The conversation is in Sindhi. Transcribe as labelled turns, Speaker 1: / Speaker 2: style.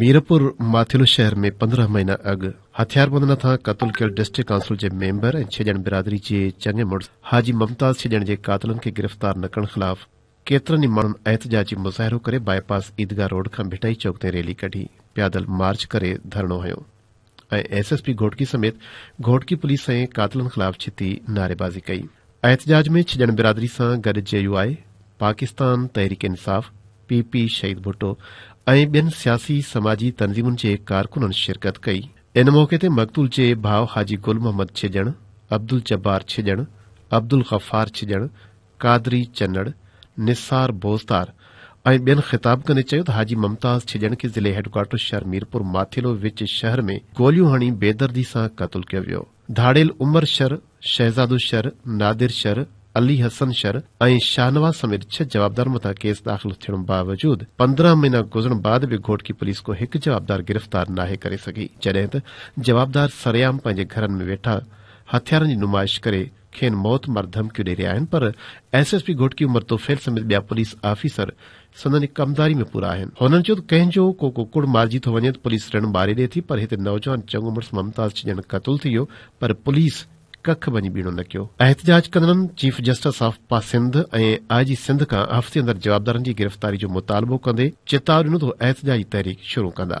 Speaker 1: ميرپور ماٿيلو شهر ۾ پندرهن مهينا اڳ هٿياربند نٿان قتل ڪيل ڊسٽرڪٽ ڪائونسل جي ميمبر ۽ ڇڄڻ برادري جي چڱي مڙس حاجي ممتاز ڇڄڻ جي قاتلن کي گرفتار نه ڪرڻ خلاف ڪيترن ئي ماڻهن احتجاجي مظاهرو ڪري باء پاس عيدگاهه روڊ کان ڀٽائي چوڪ تائين ريلي ڪڍي پيادل مارچ ڪري ڌرڻو هنيو ۽ ايس ايس پي گهوٽڪي سميت گهوٽڪي پوليس ۽ قاتلن خلاف ڇتي نعريبازي ڪئي. احتجاج ۾ ڇڄڻ برادري سان گڏ جي يو آء، پاڪستان تحريڪ انصاف، پي پي، شهيد ڀٽو ۽ ٻين سياسي سماجي تنظيمن جي ڪارڪنن شرڪت ڪئي. ان موقعي تي مقتول جي ڀاء حاجي گل محمد ڇڄڻ، عبدالجبار ڇڄڻ، عبدالغفار ڇڄڻ، قادري چنڙ، نثار بوزدار ۽ ٻين خطاب ڪندي چيو ته حاجي ممتاز ڇڄڻڪي ضلعي هيڊڪوارٽر شهر ميرپور ماٿيلو وچ شهر ۾ گوليون هڻي بيدردي سان قتل ڪيو ويو. ڌاڙيل عمر شر، شهزادو شر، نادر شر، علي حسن شر ۽ شاهنواز سميت ڇهه جوابدارن مٿان ڪيس داخل ٿيڻ باوجود پندرهن مهينا گذرڻ بعد به گهوٽڪي پوليس ڪو هڪ جوابدار گرفتار ناهي ڪري سگهي جڏهن ته جوابدار سرعام پنهنجي گهرن ۾ ويٺا هٿيارن جي نمائش ڪري کين موت مار ڌمڪيون ڏئي رهيا آهن پر S S P Ghotki Umar Tufail سميت ٻيا پوليس آفيسر سندن ڪمداري ۾ پورا آهن. هنن چيو ته ڪنهن جو ڪو ڪڪڙ مارجي ٿو وڃي ته پوليس رڻ ٻاري ڏئي ٿي پر هتي نوجوان چڱو مڙس ممتاز ڇڄڻ قتل ٿي ويو پر پوليس ڪک ڀڃي ٻيڻو نه ڪيو. احتجاج ڪندڙن چيف جسٽس آف پا سنڌ ۽ آء جي سنڌ کان هفتي اندر جوابدارن جي گرفتاري جو مطالبو ڪندي چتاء ڏنو ته هو احتجاجي تحريڪ شروع ڪندا.